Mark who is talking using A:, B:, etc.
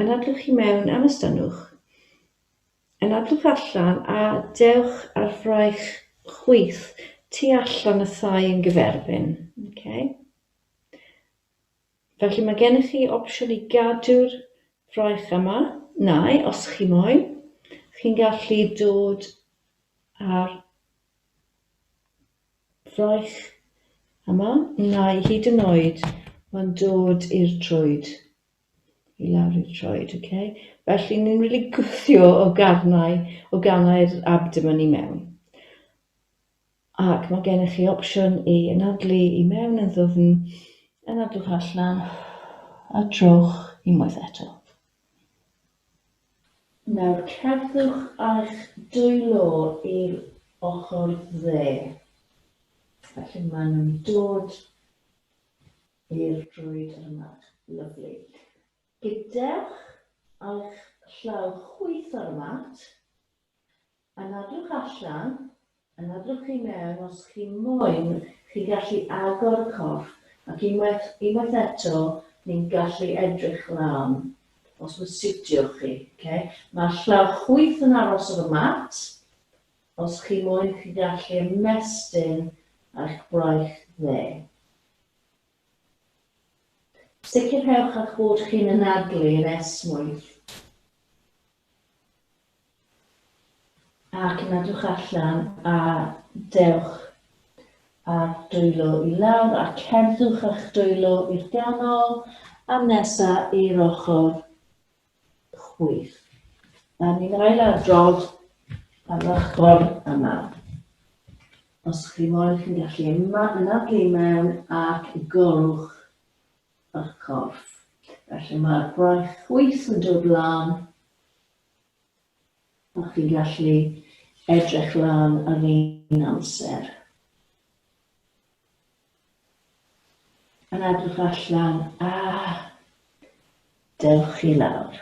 A: Anadlwch i mewn am estynnwch. Anadlwch allan a dewch ar fraich chwith tu allan y thai yn gyferbyn. Okay. Felly mae gennych chi opsiwn i gadw'r fraich yma, neu os chi moyn, chi'n gallu dod ar fraich yma, neu hyd yn oed mae'n dod i'r trwyd. i lawr i'r troed, ok? Felly ni'n mynd i gwthio o garnau, o ganau'r abdomen i mewn. Ac mae gennych chi opsiwn i anadlu i mewn yn ddwfn, anadlwch allan, a trowch unwaith eto. Nawr cerddwch â'ch dwylo i'r ochr dde. Felly maen nhw'n dod I'r drwyd yr yma. Lyfli. Gydewch a'ch llaw chwith ar y mat. Anadlwch allan, anadlwch i mewn os chi moyn, chi'n gallu agor y corff ac unwaith, unwaith eto ni'n gallu edrych lan os mae'n siwtio chi, ok? Mae'r llaw chwith yn aros ar y mat, os chi moyn chi gallu ymestyn a'ch braich dde. Sicrhewch a'ch bod chi'n anadlu'r esmwyth ac nadwch allan a dewch a'r dwylo i lawr a cerddwch a'ch dwylo i'r ganol a nesa i'r ochr chwith. A ni'n ail adrodd ar ochr yma. Os chi moyn chi'n gallu yma yn adlu mewn ac i golwch y corff. Felly mae'r gwaith chwith yn dod lan a chi'n gallu edrych lan ar un amser. Yn edrych allan, ah! Dewch i lawr.